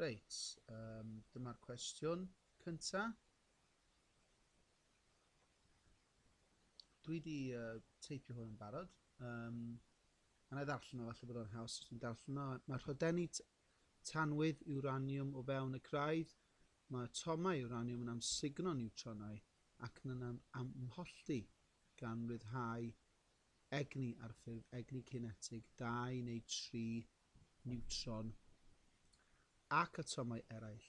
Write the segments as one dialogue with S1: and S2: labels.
S1: Reit, um, dyma'r cwestiwn cynta. Dwi wedi uh, teipio hwn yn barod. Um, a na i ddarllen o, falle bod o'n haws os ni'n darllen o. Mae rhodenni tanwydd uranium o fewn y craidd. Mae atomau uranium yn amsugno niwtronau ac yn amholltu gan ryddhau egni ar ffurf egni cinetig 2 neu 3 niwtron ac atomau eraill,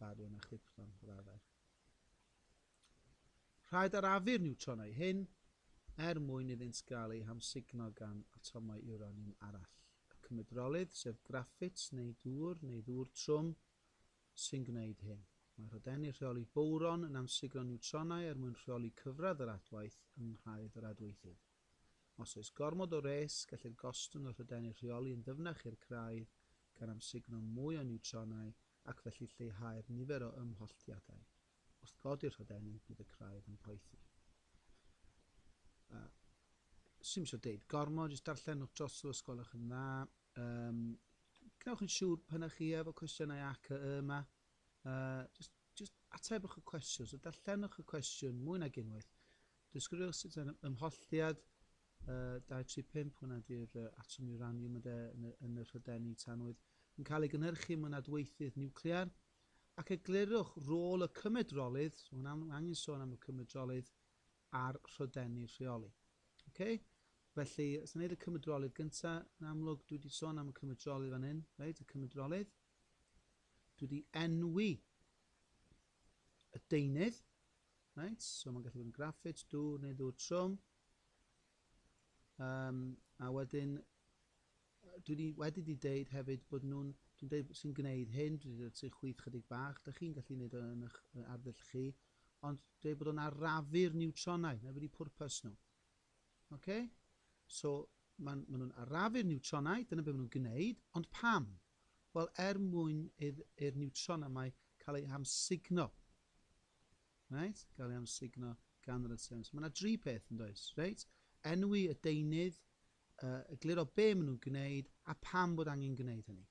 S1: bariwm a chrypton, fel arfer. Rhaid arafu'r niwtronau hyn er mwyn iddynt gael eu hamsugno gan atomau uraniwm arall, y cymedrolydd, sef graffit neu dŵr neu ddŵr trwm, sy'n gwneud hyn. Mae rhodenni rheoli bowron yn amsugno niwtronau er mwyn rheoli cyfradd yr adwaith yng nghraidd yr adweithydd. Os oes gormod o wres, gellir gostwng y rhydenni rheoli yn ddyfnach i'r craidd, gan amsugno mwy o niwtronau ac felly lleihau'r nifer o ymholltiadau. Wrth godi'r rhydenni, bydd y craidd yn poethi. Uh, Swn eisiau deud gormod, jyst darllenwch dros os gwelwch yn dda. Um, Gwnewch yn siŵr pan ych chi efo cwestiynau ac y yma. Uh, just, just atebwch y cwestiwn, so darllenwch y cwestiwn mwy nag unwaith. Disgrifio sut yr ymholltiad 235, hwnna ydy'r atom uraniwm ynde, yn y rhydenni tanwydd, yn cael ei gynhyrchu mewn adweithydd niwclear, ac eglurwch rôl y cymedrolydd, so hwnna, mae angen sôn am y cymedrolydd a'r rhydenni rheoli. Okay? Felly, os gwneud y cymedrolydd gyntaf, yn amlwg, dwi wedi sôn am y cymedrolydd fan hyn, right? y cymedrolydd. Dwi wedi enwi y deunydd. Right, so mae'n gallu bod yn graffit, dŵr neu ddŵr trwm. Um, a wedyn, dwi wedi, wedi di deud hefyd bod nhw'n, dwi'n deud sy'n gwneud hyn, dwi wedi dweud chwyth chydig bach, da chi'n gallu gwneud o yn eich arddull chi, ond dweud bod o'n arafu'r niwtronau, na wedi pwrpas nhw. Ok? So, maen ma nhw'n arafu'r niwtronau, dyna beth maen nhw'n gwneud, ond pam? Wel, er mwyn i'r niwtron yma cael ei amsugno. Right? Gael ei amsugno gan yr ateron. So, mae yna dri peth yn does, reit? Enwi y deunydd, uh, egluro be maen nhw'n gwneud a pam bod angen gwneud hynny.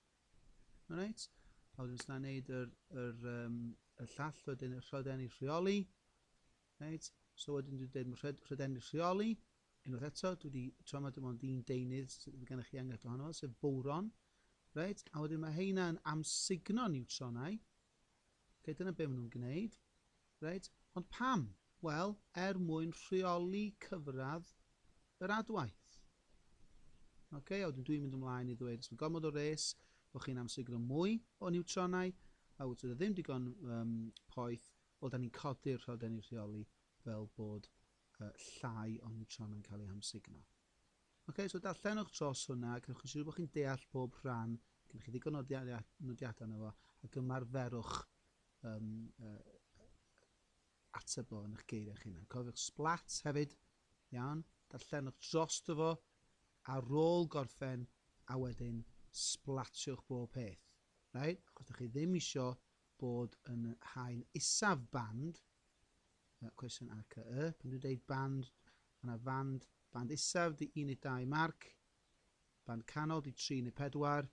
S1: Alright? A wedyn os yna'n gwneud yr, yr, um, y llall wedyn y rhoden i rheoli. Reit, so wedyn dwi'n deud mae rhed, rhedennu rheoli, unwaith eto, dwi wedi tra mae dim ond un deunydd sydd gennych chi enghraifft ohono fo, sef bowron. Reit, a wedyn mae heina yn amsugno niwtronau. Okay, dyna be maen nhw'n gwneud. Reit, ond pam? Wel, er mwyn rheoli cyfradd yr adwaith. Okay, a wedyn dwi'n mynd ymlaen i ddweud, os mae gormod o res, bod chi'n amsugno mwy o niwtronau, a wyt ti ddim digon um, poeth, Wel, dan ni'n codi'r rhaglenni rheoli fel bod yy llai o niwtron yn cael eu hamsugno. Ocê, so darllenwch dros hwnna, a gwnewch yn siŵr bod chi'n deall pob rhan, gennych chi ddigon o nodiadau yna fo, ac ymarferwch um, uh, ateb o yn eich geiriau eich hunan. Cofiwch splats hefyd, iawn, darllenwch dros dy fo, ar ôl gorffen, a wedyn splatiwch bob peth. Right? Achos da chi ddim eisiau bod yn haen isaf band, yy cwestiwn ar cy y, pan dwi'n deud band, mae yna fand, band isaf di un neu dau marc, band canol di tri neu pedwar,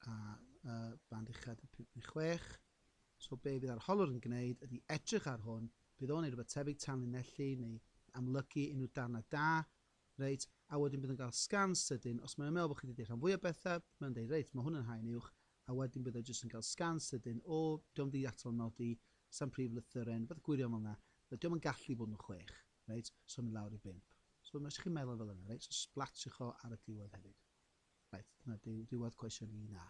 S1: a yy band uchaf di pump neu chwech. So be fydd arholwr yn gwneud ydy edrych ar hwn, bydd o'n ei rhywbeth tebyg tanlinellu neu amlygu unrhyw darnau da, reit, a wedyn bydd yn cael sgan sydyn, os mae'n meddwl bod chi wedi deud rhan fwyaf bethau, mae'n deud, reit, mae hwn yn haen uwch, a wedyn bydd o jyst yn cael sgan sydyn, o, 'di o'm 'di atal nodi, 'sa'm prif lythyren, pethe gwirion fel 'na, na, 'di o'm yn gallu bod yn chwech, reit, so mynd lawr i bump. So os chi'n meddwl fel yna, reit, so sblatiwch o ar y diwedd hefyd. Reit, dyna diw, diwedd cwestiwn 1A.